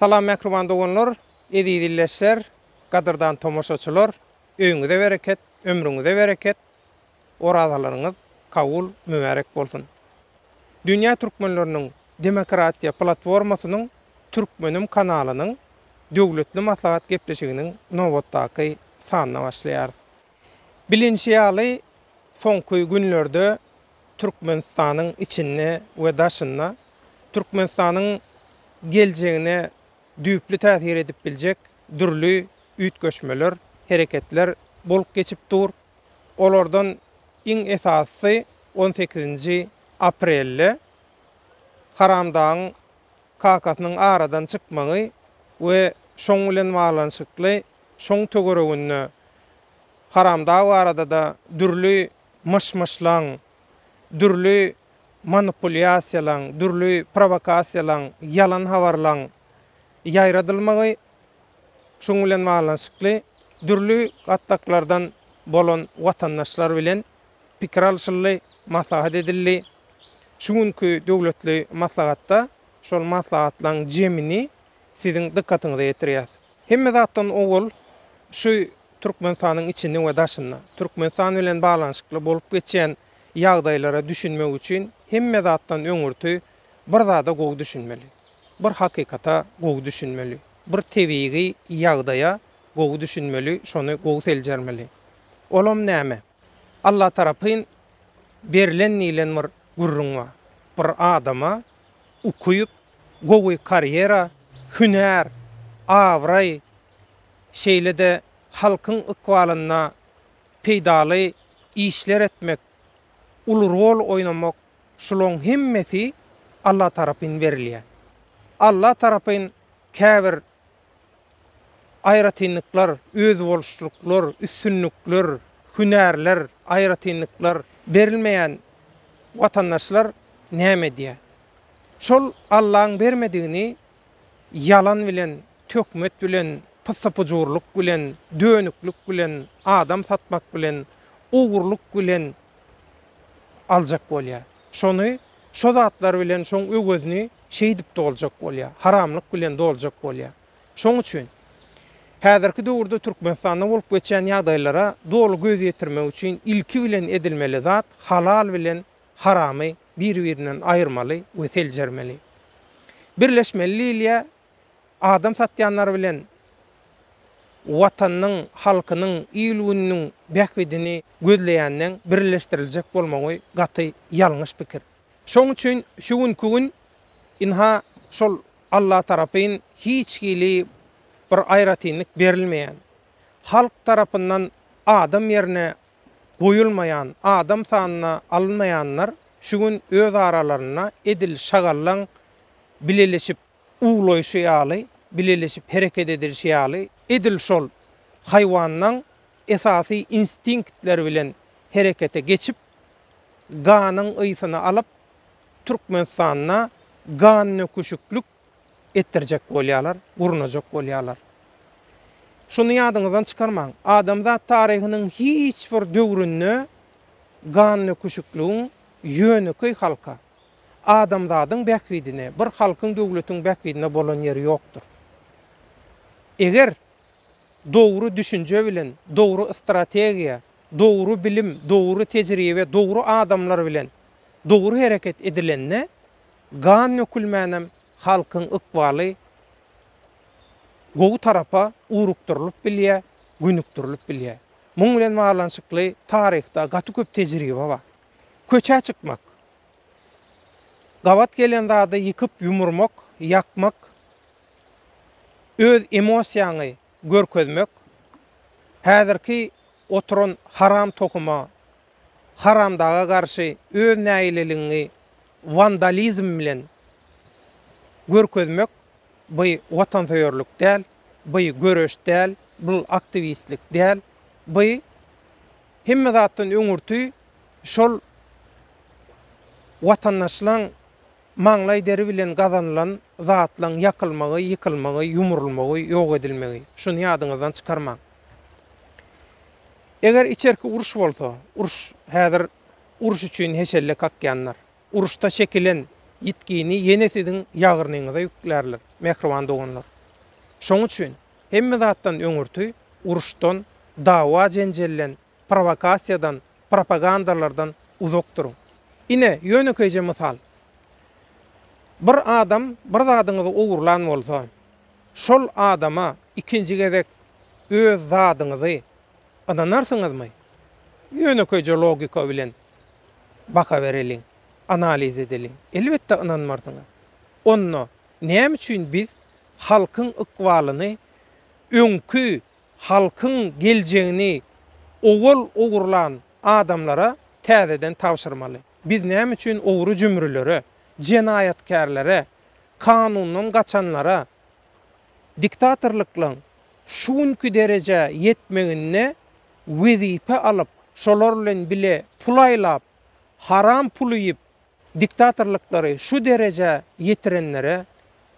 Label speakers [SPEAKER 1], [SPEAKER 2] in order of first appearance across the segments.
[SPEAKER 1] Salam mähriban doganlar, eziz illeşler, gadyrdan tomaşaçylar, öýüňize bereket, ömrüňize bereket, orazalaryňyz kabul, mübärek bolsun. Dünýä türkmenleriniň demokratiýa platformasynyň Türkmenim kanalynyň döwletli maslahat gepleşiginiň nobatdaky sanyna başlaýarys. Bilinşi ýaly, soňky günlerde Türkmenistanyň içinde we daşynda Türkmenistanyň geljegine düýpli täsir edip biljek dürli üýtgeşmeler, hereketler bolup geçip dur. Olardan iň esasysy on sekizinji aprelde Haramdagyň kakasynyň aradan çykmagy we şoň bilen baglanyşykly Şoň töwereginde Haramdag barada-da dürli myş-myşlaň, dürli manipulýasiýalaň, dürli prowokasiýalaň, ýalan habarlaň ýaýradylmagy, şunuň bilen baglanyşykly dürli gatlaklardan bolan watandaşlar bilen pikir alşyldy, maslahat edildi. Şu günki döwletli maslahatda şol maslahatlaň jemini siziň dykgatyňyza ýetirýäs. Hemme zatdan owal şu Türkmenistanyň içinde we daşynda, Türkmenistan bilen baglanyşykly bolup geçýän ýagdaýlara düşünmek üçin hemme zatdan öňürti bir zada gowy düşünmeli. Bir hakykata gowy düşünmeli. Bir tebigy ýagdaýa gowy düşünmeli, şony gowy seljermeli. Olam näme? Alla tarapyn berilen diýlen bir gürrüň bar. Bir adama ukyp, gowy karýera, hünär, abraý, şeýle-de halkyň ykbalyna peýdaly işler etmek, uly rol oýnamak, şulaň hemmesi Alla tarapyn berilýär. Alla tarapyn käbir aýratynlyklar, özboluşlyklar, üstünlikler, hünärler, aýratynlyklar berilmeýän watandaşlar näme edýär? Şol Allaň bermedigini ýalan bilen, töhmet bilen, pyssy-pyjurlyk bilen, dönüklik bilen, adam satmak bilen, ogurlyk bilen aljak bolýar. Şony şo zatlar bilen şoň öwezini şeýdip doljak bolýar, haramlyk bilen doljak bolýar. Şoň üçin häzirki döwürde Türkmenistanda bolup geçýän ýagdaýlara doly göz ýetirmek üçin ilki bilen edilmeli zat halal bilen haramy bir-birinden aýyrmaly we seljermeli. Birleşmeli diýilýär, adam satýanlar bilen Watanynyň, halkynyň, il-gününiň bähbidini gözleýänden birleşdiriljek bolmagy gaty ýalňyş pikir. Şoň üçin şu günki gün ynha şol Alla tarapyn hiç hili bir aýratynlyk berilmeýän, halk tarapyndan adam ýerine goýulmaýan, adam sanyna alynmaýanlar şu gün öz aralarynda edil şagallaň bileleşip, uwlaýşy ýaly, bileleşip hereket edilişi ýaly, edil şol haýwanlaň esasy instinktleri bilen herekete geçip, ganyň ysyny alyp, Türkmenistanda gannöküşiklik etdirjek bolýarlar, gurnajak bolýarlar. Şuny ýadyňyzdan çykarmaň, adamzat taryhynyň hiç bir döwründe gannöküşikligiň ýönekeý halka, adamzadyň bähbidine, bir halkyň, döwletiň bähbidine bolan ýeri ýokdur. Eger dogry düşünje bilen, dogry strategiýa, dogry bilim, dogry tejribe, dogry adamlar bilen dogry hereket edilende, gan dökülmänem halkyň ykbaly gowy tarapa ugrukdyrylyp bilýär, gönükdirilip bilýär. Muň bilen baglanyşykly taryhda gaty köp tejribe bar. Köçä çykmak, Gabat gelen zady ýykyp ýumurmak, ýakmak, öz emosiýaňy görkezmek, häzirki oturan haram tohuma, haramdaga garşy öz nägileligiňi wandalizm bilen görkezmek by watansöýerlik däl, by göreş däl, bul aktiwistlik däl, by hemme zatdan öňürti, şol watandaşlaň maňlaý deri bilen gazanylan zatlaň ýakylmagy, ýykylmagy, ýumrulmagy, ýok edilmegi. Şuny ýadyňyzdan çykarmaň. Eger içerki uruş bolsa, uruş häzir uruş üçin heşelle kakýanlar. Uruşda çekilen ýitgini ýene siziň ýagyrnyňyza ýüklärler, mähriban doganlar. Şoň üçin hemme zatdan öňürti uruşdan, dawa-jenjelden prowokasiýadan, propagandalardan uzak duruň. Ine, ýönekeýje mysal. Bir adam bir zadyňyzy ogurlan bolsa, şol adama ikinji gezek öz zadyňyzy ynanarsyňyzmy? Ýönekeýje logika bilen baha bereliň, analiz edeliň. Elbetde ynanmarsyňyz. Onda näme üçin biz halkyň ykbalyny öňki halkyň geljegini owal ogurlan adamlara täzeden tabşyrmaly. Biz näme üçin ogry-jümrülere, jenaýatkärlere, kanundan gaçanlara, diktatorlyklaň şu günki derejä ýetmeginde wezipe alyp, şolar bilen bile pul aýlap, haram pul iýip, diktatorlyklary şu derejä ýetirenlere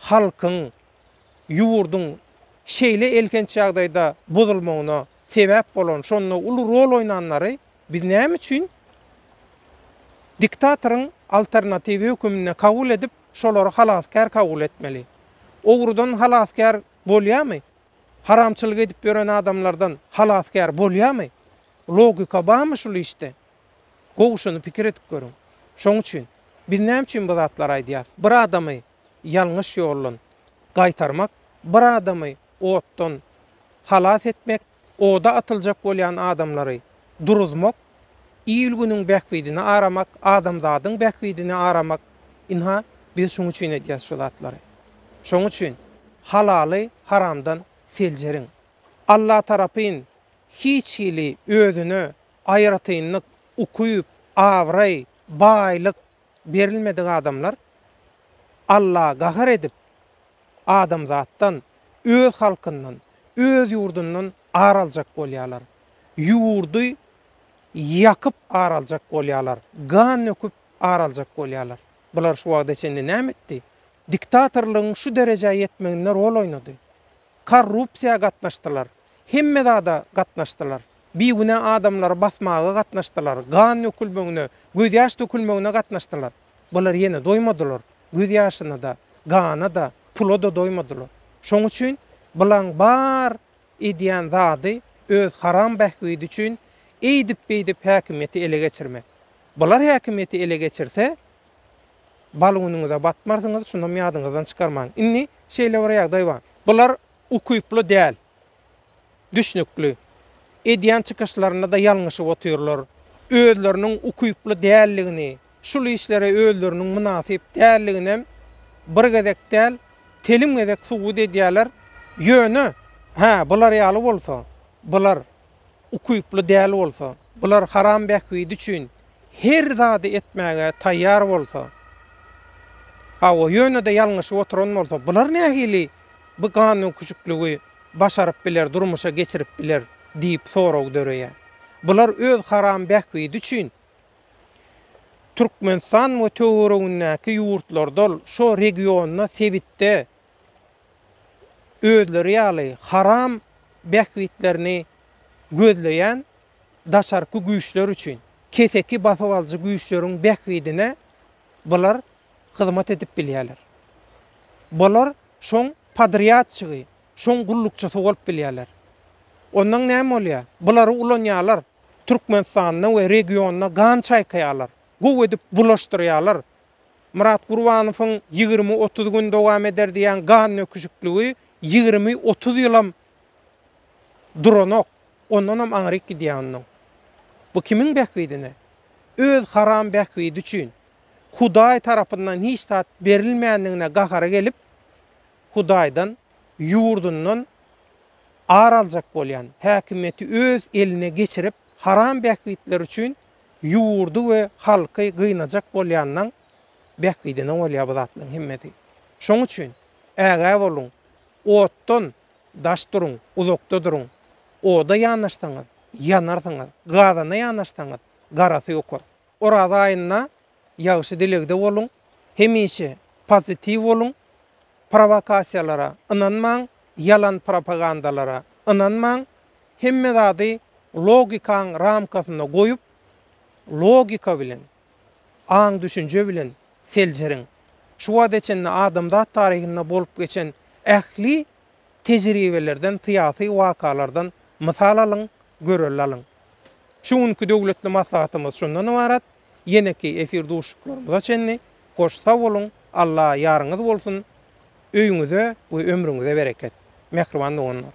[SPEAKER 1] halkyň Ýurduň şeýle elhenç ýagdaýda bozulmagyna sebäp bolan, şonda uly rol oýnanlary biz näme üçin diktatoryň alternatiwi höküminde kabul edip, şolary halasgär kabul etmeli? Ogrudan halasgär bolýamy? Haramçylyk edip ýören adamlardan halasgär bolýamy? Logika barmy şul işde? Gowy şuny pikir edip görüň. Şoň üçin biz näme üçin bu zatlary aýdýas? Bir adamy ýalňyş ýoldan gaýtarmak, bir adamy otdan halas etmek, oda atyljak bolýan adamlary duruzmak, il-günüň bähbidini aramak, adamzadyň bähbidini aramak, ynha, biz şuň üçin edýäs şu zatlary. Şoň üçin halaly haramdan seljeriň. Allatarapyn hiç hili özüne aýratynlyk, ukyp, abraý, baýlyk, berilmedik adamlar Alla gahar edip, adamzatdan, öz halkyndan, öz ýurdundan ar aljak bolýarlar. Ýurdy ýakyp ar aljak bolýarlar, gan döküp ar aljak bolýarlar. Bular şu wagta çenli näme etdi? Diktatorlygyň şu derejä ýetmeginde rol oýnady. Korrupsiýa gatnaşdylar. Hemme zada gatnaşdylar. Bigünä adamlary basmaga gatnaşdylar, gan dökülmegine, gözýaş dökülmegine gatnaşdylar. Bular ýene doýmadylar. Gözýaşyna-da, gana-da, pula-da doýmadylar. Şoň üçin bulaň bar edýän zady öz haram bähbidi üçin eýdip-beýdip häkimiýeti ele geçirmek. Bular häkimiýeti ele geçirse, Baluniňize batmarsyňyz, şundam ýadyňyzdan çykarmaň. Indi şeýle bir ýagdaý bar. Bular ukyply däl. Düşnükli. Edýän çykyşlarynda-da ýalňyşyp otyrlar. Özleriniň ukyply däldigini, şul işlere özleriniň mynasyp däldiginem bir gezek däl, telim gezek subut edýärler. Ýöne, hä, bular ýaly bolsa, bular. ukyply däl bolsa, bular haram bähbidi üçin her zady etmäge taýýar bolsa, hawa, ýöne-de ýalňyşyp oturan bolsa, bular nähili bu ganyküçükligi başaryp biler, durmuşa geçirip biler diýip sorag döreýär. Bular öz haram bähbidi üçin Türkmenistan we töweregindäki ýurtlardal şo regionda, sebitde özleri ýaly haram bähbitlerini gözleýän daşarky güýçler üçin, keseki basybalyjy güýçleriň bähbidine bular hyzmat edip bilýärler. Bular şoň podrýadçygy, şoň gullukçysy bolup bilýärler. Ondan näme bolýar? Bulary ulanýarlar, Türkmenistanda we regionda gan çaýkaýarlar, gowy edip bulaşdyrýarlar, Myrat Gurbanowyň ýigrimi-otuz gün dowam eder diýýän gannöküşikligi ýigrimi-otuz ýylam duranok. Ondanam aňryk gidýär onnoň. Bu kimiň bähbidine? Öz haram bähbidi üçin. Hudaý tarapyndan hiç zat berilmändigine gahary gelip, Hudaýdan, ýurdundan ar aljak bolýan, häkimiýeti öz eline geçirip, haram bähbitleri üçin ýurdy we halky gynajak bolýandan bähbidine bolýar bu zatlaryň hemmesi. Şoň üçin ägä boluň, otdan daş duruň, uzakda duruň. Oda ýanaşsaňyz, ýanarsyňyz, gazana ýanaşsaňyz, garasy ýokar. Oraza aýynda ýagşy dilegde boluň, hemişe pozitiw boluň, prowokasiýalara ynanmaň, ýalan propagandalara ynanmaň, Hemme zady logikaň ramkasynda goýup, logika bilen, aň-düşünje bilen seljeriň. Şu bada çenli adamzat taryhynda bolup geçen ähli tejribelerden, syýasy wakalardan mysal alyň, görelde alyň. Şu günki döwletli maslahatymyz şundan ybarat. Ýeneki efir duşuşyklarymyza çenli hoş sag boluň, Alla ýaryňyz bolsun, öýüňize we ömrüňize bereket, mähriban doganlar!